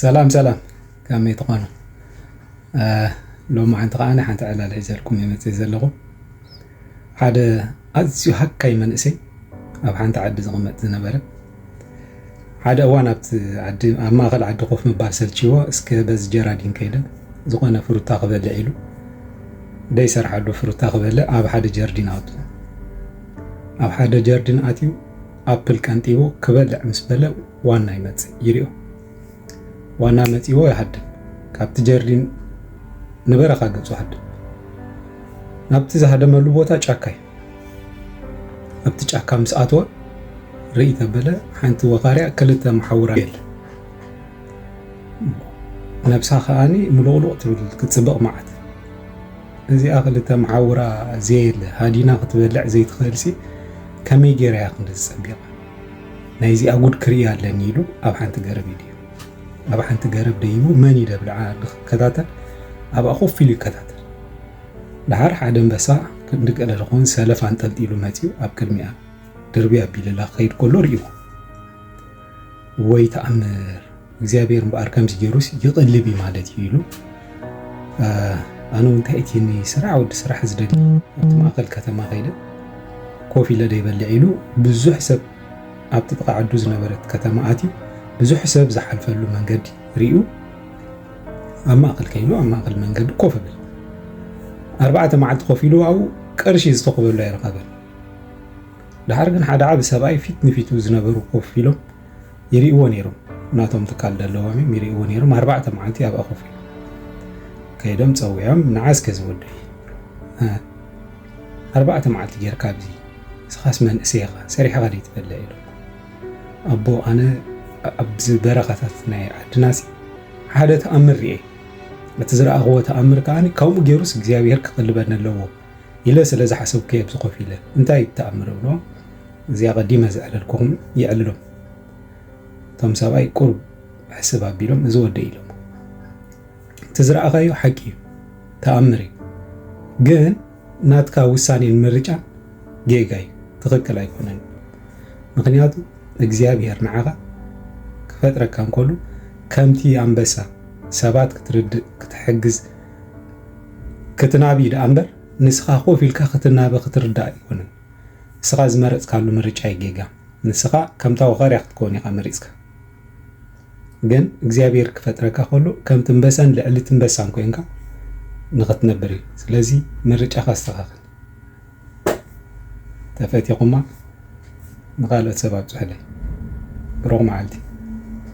ሰላም ሰላም ከመይ ትኾኑ ሎማዓንቲ ከኣ ሓንቲ ዕላል ሒዘልኩም እየ መፅእ ዘለኹ ሓደ ኣዝዩ ሃካይ መንእሰይ ኣብ ሓንቲ ዓዲ ዝቕመጥ ዝነበረ ሓደ እዋን ኣብቲ ዓዲ ኣብ ማእኸል ዓዲ ኮፍ ምባል ሰልችዎ እስከ በዚ ጀራዲን ከይደ ዝኾነ ፍሩታ ክበልዕ ኢሉ ደይሰርሓሉ ፍሩታ ክበልዕ ኣብ ሓደ ጀርዲን ኣቱ ኣብ ሓደ ጀርዲን ኣትዩ ኣፕል ቀንጢቡ ክበልዕ ምስ በለ ዋና ይመጽእ ይሪኦ። ዋና መጺዎ ይሃድም። ካብቲ ጀርዲን ንበረኻ ገጹ ሃድም። ናብቲ ዝሃደመሉ ቦታ ጫካ እዩ። ኣብቲ ጫካ ምስ ኣተወ ርኢ ተበለ ሓንቲ ወኻርያ ክልተ መሓውራ የለ ነብሳ ከዓኒ ምሉቕሉቕ ትብል ክትፅብቕ መዓት እዚኣ ክልተ መዓውራ ዘየለ ሃዲና ክትበልዕ ዘይትኽእልሲ ከመይ ጌራ እያ ክንደዚ ጸቢቓ ናይዚኣ ጉድ ክርኢ ኣለኒ ኢሉ ኣብ ሓንቲ ገረብ ይድዩ ኣብ ሓንቲ ገረብ ደይቡ መን ይደብልዓ ክከታተል ኣብኣ ኮፍ ኢሉ ይከታተል ድሓር ሓደ ኣንበሳ ክንዲ ገለ ዝኾን ሰለፍ ኣንጠልጢሉ መጺኡ ኣብ ቅድሚኣ ድርቢ ኣቢልላ ክኸይድ ከሎ ርእይዎ ወይ ተኣምር እግዚኣብሔር እምበኣር ከምዚ ገይሩስ ይቕልብ እዩ ማለት እዩ ኢሉ ኣነ እውን እንታይ እቲ ስራሕ ወዲ ስራሕ ዝደሊ ኣብቲ ማእኸል ከተማ ከይደ ኮፍ ኢለ ደይበልዕ ኢሉ ብዙሕ ሰብ ኣብቲ ጥቃ ዓዱ ዝነበረት ከተማ ኣትዩ ብዙሕ ሰብ ዝሓልፈሉ መንገዲ ርዩ ኣብ ማእኸል ከይኑ ኣብ ማእኸል መንገዲ ኮፍ ብል ኣርባዕተ መዓልቲ ኮፍ ኢሉ ኣብኡ ቅርሺ ዝተኽበሉ ኣይረኸበን ድሓር ግን ሓደ ዓብ ሰብኣይ ፊት ንፊቱ ዝነበሩ ኮፍ ኢሎም ይሪእዎ ነይሮም ናቶም ትካል ደለዎም እዮም ይሪእዎ ነይሮም ኣርባዕተ መዓልቲ ኣብኣ ኮፍ ኢሎም ከይዶም ፀዊዖም ንዓ እስከ ዝወደይ ኣርባዕተ መዓልቲ ጌርካ ኣብዚ ንስኻስ መንእሰይ ኢኻ ሰሪሕኻ ደይትበልዕ ኢሉ ኣቦ ኣነ ኣብዚ በረኻታት ናይ ዓድናሲ ሓደ ተኣምር ርኤ እቲ ዝረኣኽዎ ተኣምር ከዓ ከምኡ ገይሩስ እግዚኣብሄር ክቕልበኒ ኣለዎ ኢለ ስለ ዝሓሰብኩ'የ ኣብዚ ኮፍ ኢለ። እንታይ እዩ እቲ ተኣምር እብሎ። እዚ ኣቐዲመ ዘዕለልኩኹም የዕልሎም። እቶም ሰብኣይ ቁሩብ ሕስብ ኣቢሎም እዚ ወደይ ኢሎሞ። እቲ ዝረኣኻዮ ሓቂ እዩ፣ ተኣምር እዩ። ግን ናትካ ውሳኔን ምርጫን ጌጋ እዩ፣ ትኽክል ኣይኮነን። ምኽንያቱ እግዚኣብሄር ንዓኻ ክፈጥረካ እንከሉ ከምቲ ኣንበሳ ሰባት ክትርድእ፣ ክትሕግዝ፣ ክትናቢ ደኣ እምበር ንስኻ ኮፍ ኢልካ ክትናበ ክትርዳእ ኣይኮነን። ንስኻ ዝመረጽካሉ ምርጫ እዩ ጌጋ። ንስኻ ከምታ ወኻርያ ክትከውን ኢኻ መሪጽካ። ግን እግዚኣብሔር ክፈጥረካ ከሎ ከም ትንበሳን ልዕሊ ትንበሳን ኮንካ ንክትነብር እዩ ስለዚ ምርጫኻ ኣስተኻኽል ተፈቲኹማ ንካልኦት ሰብ ኣብፅሑለይ ብሩኽ መዓልቲ